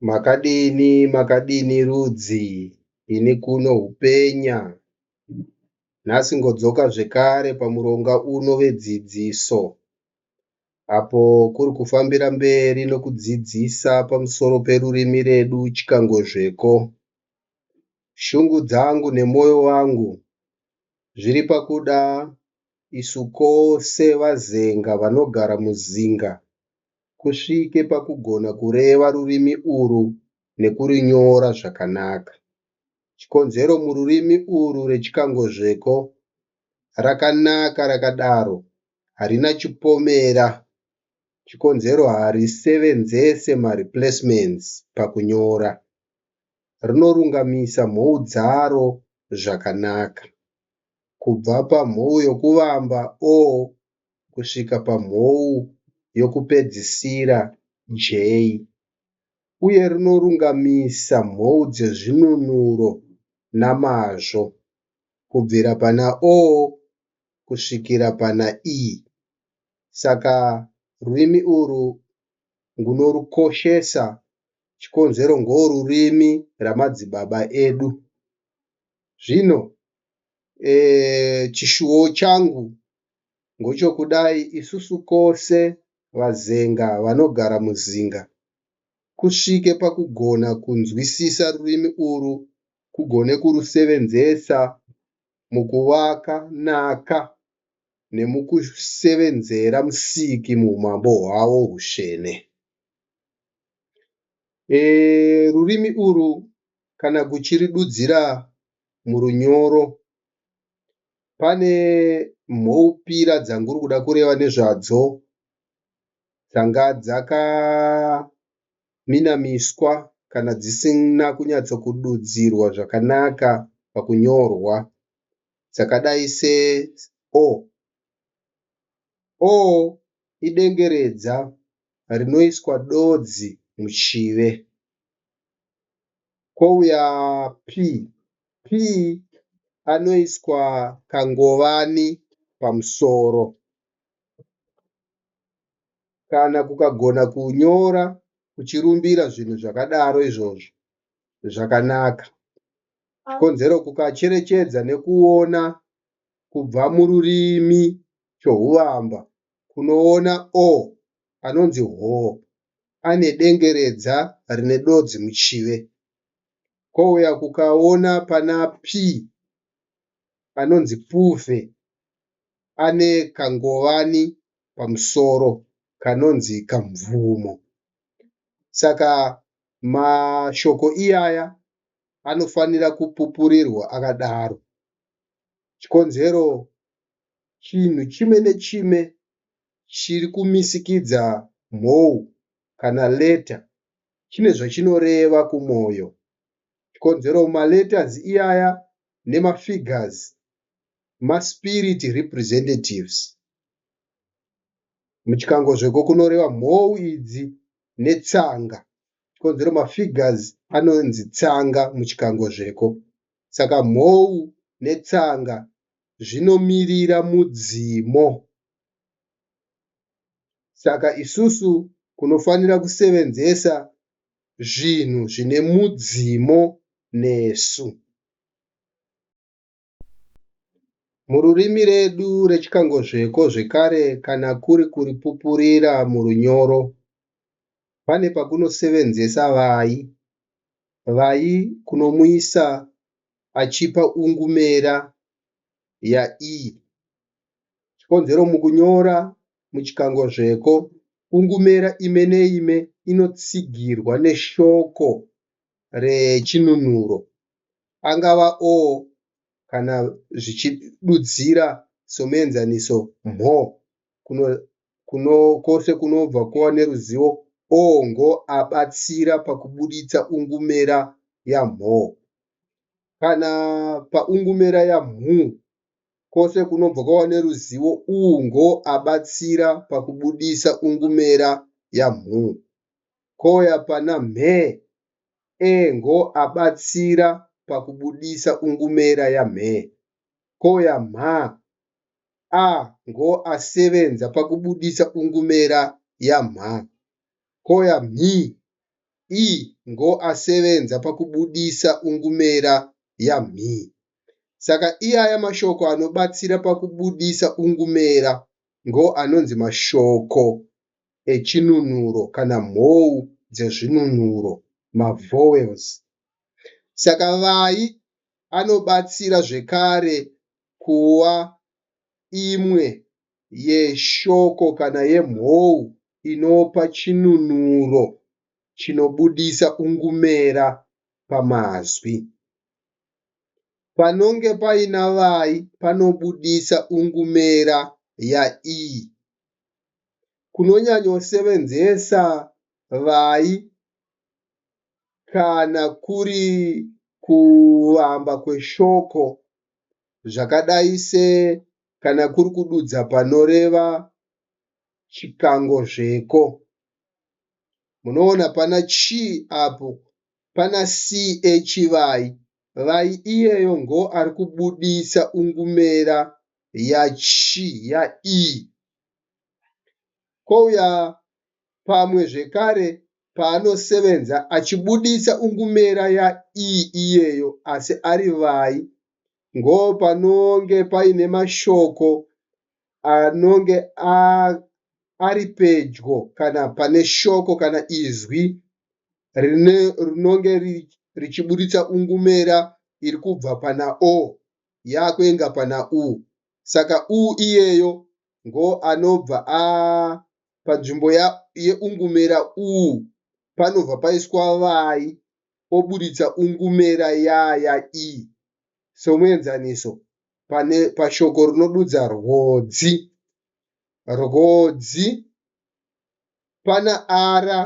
Makadini makadini rudzi ini kuno hupenya nhasi ngodzoka zvekare pamuronga uno vedzidziso apo kuri kufambira mberi nokudzidzisa pamusoro perurimi redu chikangozveko shungu dzangu nemwoyo wangu zviri pakuda isu kose vazenga vanogara muzinga kusvike pakugona kureva rurimi urwu nekurinyora zvakanaka. Chikonzero mururimi urwu rechikangozveko rakanaka rakadaro harina chipomera chikonzero harisevenzese mareplacements pakunyora. Rinorungamisa mhou dzaro zvakanaka, kubva pamhou yokuvamba o kusvika pamhou yokupedzisira, J, uye rinorungamisa mhou dzezvinunuro namazvo, kubvira pana O kusvikira pana E. Saka rurimi urwu ngunorukoshesa, chikonzero ngorurimi ramadzibaba edu. Zvino, e, chishuwo changu Ngochokudai isusu kose vaZenga vanogara muZinga kusvike pakugona kunzwisisa rurimi urwu kugone kurusevenzesa mukuvaka nhaka nemukusevenzera Musiki muhumambo hwavo husvene. E, rurimi urwu kana kuchiridudzira murunyoro Pane mhoupira dzanguri kuda kureva nezvadzo dzanga dzakaminamiswa kana dzisina kunyatsokududzirwa zvakanaka pakunyorwa dzakadai se o. O idengeredza rinoiswa dodzi muchive. Kwouya p Pee anoiswa kangovani pamusoro. Kana kukagona kunyora uchirumbira zvinhu zvakadaro izvozvo zvakanaka. Chikonzero kukacherechedza nekuona kubva mururimi chohuvamba kunoona o anonzi hoo ane dengeredza rine dodzi muchive. kouya kukaona pana P anonzi Puve ane kangowani pamusoro kanonzi Kamvumo. Saka mashoko iyaya anofanira kupupurirwa akadaro. Chikonzero chinhu chimwe nechimwe chiri kumisikidza mhou kana leta chine zvachinoreva kumwoyo. Chikonzero maletters iyaya nemafigures maspirit representatives. Muchikangozveko kunoreva mhou idzi netsanga. Chikonzero mafigures anonzi tsanga muchikangozveko. Saka mhou netsanga zvinomirira mudzimu. Saka isusu kunofanira kusevenzesa zvinhu zvine mudzimu nesu. Mururimi redu rechikangozveko zvekare kana kuri kuripupurira murunyoro, pane pakunosevenzesa vai, vai kunomuisa achipa ungumera yaii. Chikonzero mukunyora muchikangozveko kungumera ime neime inotsigirwa neshoko rechinunuro, angava o kana zvichidudzira somuenzaniso mho kuno kwose kunobva kuva neruzivo o ngo abatsira pakubuditsa ungumera yamho. Kana paungumera yamhu Kwose kunobva kwawane ruzivo uwu ngo abatsira pakubudisa ungumera ya mhu ko ya pana mhe e ngo abatsira pakubudisa ungumera ya mhe ko ya mha a ngo asevenza pakubudisa ungumera ya mha ko ya mhi i ngo asevenza pakubudisa ungumera ya mhi Saka iaya mashoko anobatsira pakubudisa ungumera ngo anonzi mashoko echinunuro kana mhou dzezvinunuro, mavowels. Saka vai anobatsira zvekare kuva imwe yeshoko kana yemhou inopa chinunuro chinobudisa ungumera pamazwi. Panonge paina vayi panobudisa ungumera ya i. Kunonyanyosevenzesa vayi kana kuri kuvamba kweshoko zvakadai se kana kuri kududza panoreva chikangozveko. Munoona pana chi apo Pana CA Chivai vai iyeyo ngo ari kubuditsa ungumera ya chi ya ii. Kouya pamwe zvekare paanosevenza achibuditsa ungumera ya ii iyeyo asi ari vai ngo panonge paine mashoko anonge ari pedyo kana pane shoko kana izwi rinonge richiburitsa ungumera iri kubva pana o yakuenga pana u saka u iyeyo ngo anobva a panzvimbo yeungumera u panobva paiswa vai oburitsa ungumera yaya i somuenzaniso pane pashoko rinodudza rwodzi rwodzi pana ara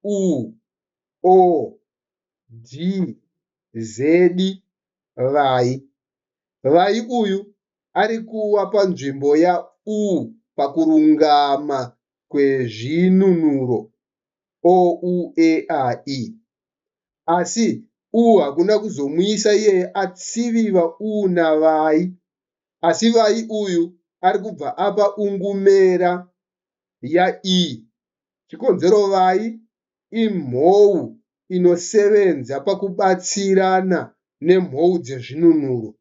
u o d zedi vai vai uyu ari kuwa panzvimbo ya u pakurungama kwezvinunuro o u e a i asi uu hakuna kuzomuisa iyeye atsiviva uu navai asi vai uyu ari kubva apa ungumera ya ii chikonzero vai imhou inosevenza pakubatsirana nemhou dzezvinunuro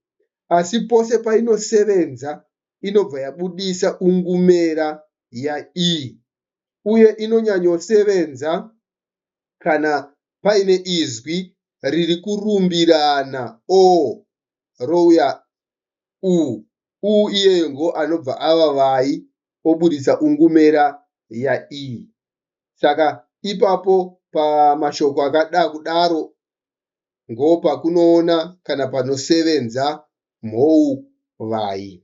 asi pose painosevenza inobva yabudisa ungumera ya ii uye inonyanyosevenza kana paine izwi riri kurumbirana o rouya u, u iyeyo ngo anobva ava vai oburitsa ungumera ya i. Saka ipapo pamashoko akada kudaro ngo pakunoona kana panosevenza mhou vai.